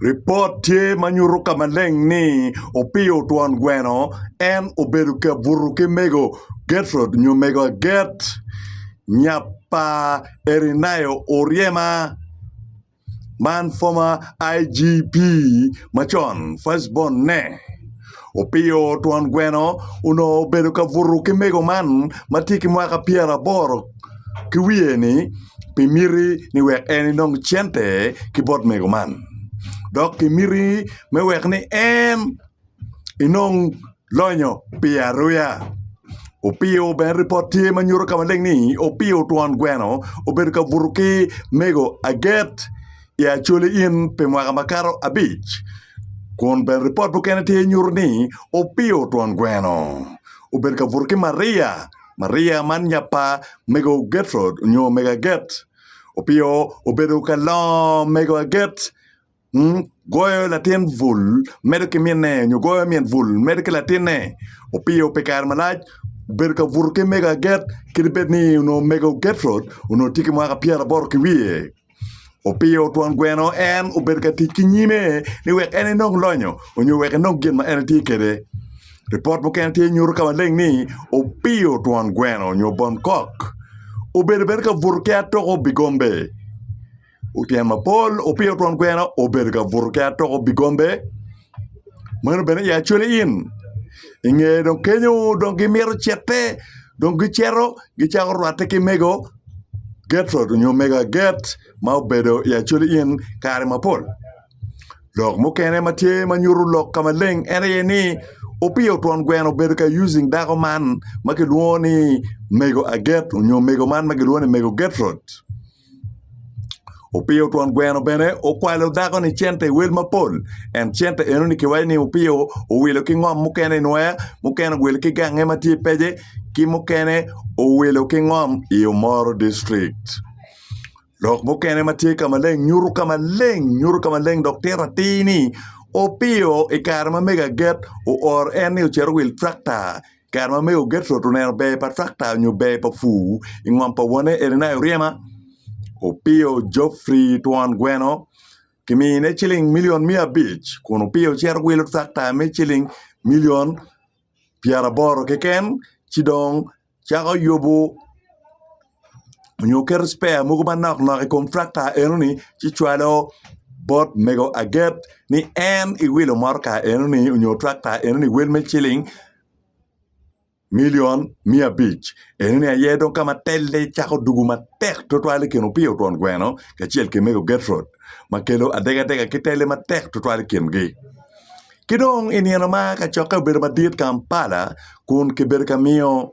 Ripot tye ma nyuto ka maleng ni opiyo twon gweno en obedo ka buto ki mego Gertrud nyo mego Aget nya pa Erineya Oryema, man former IGP macon, first born-ne. Opiyo twon gweno onongo obedo ka buto ki mego man ma tye ki mwaka pyeraboro ki wiye-ni pi miti ni wek en enong cente ki bot mego man dok pi miti me wek ni en enong lonyo pi aruya. Opiyo bene ripot tye ma nyuto ka maleng ni Opiyo twon gweno obedo ka buto ki mego aget. i Acholi Inn pi mwaka makato abic, kun bene ripot mukene tye nyuto ni Opio twon gweno obedo ka buto ki Maria, Maria man nya pa mego Gertrud nyo mego Aget. Opio obedo ka longo mego Aget, goyo latin bul medo ki minne nyo goyo min bul medo ki latinne. Opio pi kare malac obedo ka buto ki mego Aget kadi bed ni onongo mego Gertrud onongo tye ki mwaka pyeraboto ki wiye. opiyo twon gweno en obedo ka tic ki nyime ni wek en enong lonyo nyo wek enong gin ma en tye kwede. Lipot mukene tye nyuto ka maleng ni opiyo twon gweno nyo bon kok obedo bene ka buto ki atoko bigombe. Tyen mapol, opiyo twon gweno obedo ka buto ki atoko bigombe. Meno bene aye acwali in. I nge dong kenyo dong gimito cite dong gicito gicako rwatte ki mego Gertrud nyo mego Aget ma obedo i acwali in kare mapol. Lok mukene ma tye ma nyuto lok ka maleng en aye ni Opiyo twon gweno obedo ka using dako man ma kilwongo ni mego Aget nyo mego man ma kilwongo ni mego Gertrud. Opiyo twon gweno bene okwalo dako ni cente i wel mapol en cente eno ni kiwaco ni opiyo owilo ki ngom mukene i nwoya mukene owilo ki gange ma tye i pece ki mukene owilo ki ngom i omoro district lok mukene ma tye ka maleng nyuto ka maleng nyuto ka maleng dok tito atir ni opiyo i kare ma mego aget ooro en ni ocit owil trakta Kare ma mego Gertrud oneno ber pa trakta nyo ber pa pur i ngom pa wonne Irenae oryema, opiyo Geoffrey twon gweno ki miyone ciling milion miya abic kun opiyo cito wilo trakta me ciling milion pyeraboro keken ci dong cako yubo nyo keto cpeya mogo manok nok i kom tracta enoni ci cwalo bot mego aget ni en iwilo motoka enoni nyo tracta enoni iwil me ciling milion miya abic enoni aye dong kama telle cako dugu matek tutwal i kin Opiyo twon gweno kacel ki mego Gertrud ma kelo adega adega ki telle matek tutwal i kingi ki dong i nino ma kacokke obedo madit Kampala kun kibedo ka miyo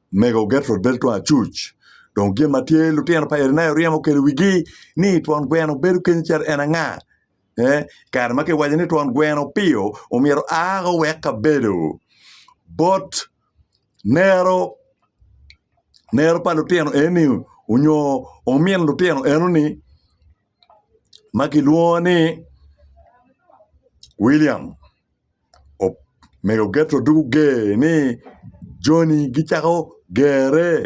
Mego Gertrud bedo twon acuc. Dong gin ma tye lutino pa Irenaeus ryemo okelo i wigi ni twon gweno bedo kenyo cito en anga. I kare ma kiwaco ni twon gweno piyo omyero a ka owek kabedo bot nero nero pa lutino eni onyo omin lutino enoni ma kilwongo ni William. Omego Getro dok oger ni, Jo-ni gicako gerre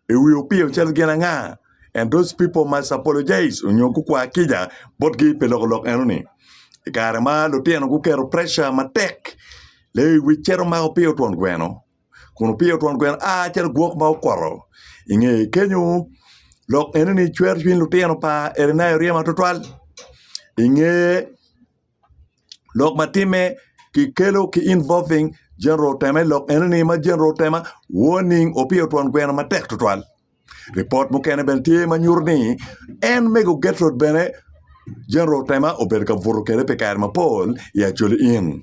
i wi opiro calo gin anga, and those people must apologize nyo gukwa kica botgi pi loko lok enoni. I kare ma lutino guketo preca matek, Lewic cito mako opiro twon gweno, kun opiro twon gweno a calo gwok ma okoto. I nge kenyo, lok enoni cwero cwiny lutino pa Erineya orye ma twatwal. I nge. lok matimme kikelo ki involving General Tema i lok enoni ma General Tema warning opiyo twon gweno matek tutwal. Ripot mukene bene tye ma nyuto ni en mego Gertrude bene General Tema obedo ka buto kwede pi kare mapol i Acholi Inn.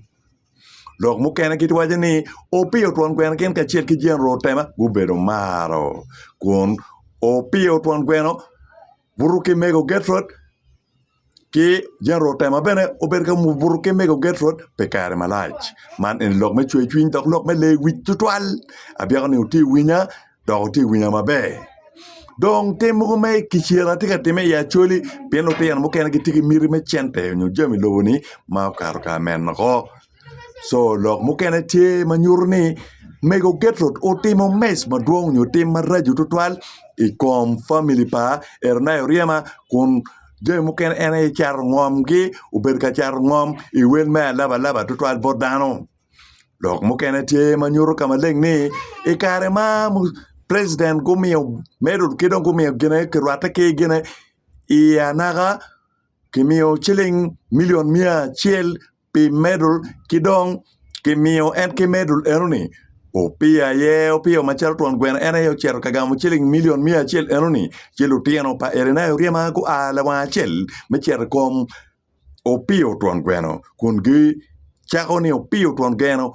Lok mukene giwaco ni opiyo twon gweno gin kacel ki General Tema gubedo maro kun opiyo twon gweno Buto ki mego Gercod ki jami otema bene obedo ka buto ki mego Gercod pi kare malac. Man eni lok me cwercwiny dok lok me lewic tutwal abyeko ni wutye ka winya dok wutye ka winya maber dong tim mogo me kicel atye ka time i Acholi pien lutino mukene gitye ki miti me cente nyo jami lobo ni ma okato kare meno woko. co lok mukene tye ma nyuto ni mego Gertrude otimo mec madwong nyo tim maraco tutwal i kom famili pa Eroniya Oryema kun jami mukene en aye cato ngomgi obedo ka cato ngom i wel me alabalaba tutwal bot dano lok mukene tye ma nyuto ka maleng ni i kare ma president gumiyo medo ki dong gumiyo gine kirwatte ki gine i anaka kimiyo ciling milion miya acel pi medul ki dong kimiyo en ki medul enoni opiyo aye opiyo macalo twon gweno en aye ocito ka gamo ciling milion miya acel enoni ci lutino pa Elinayo oryema gua lawang acel me cito i kom opiyo twon gweno kun gicako ni opiyo twon geno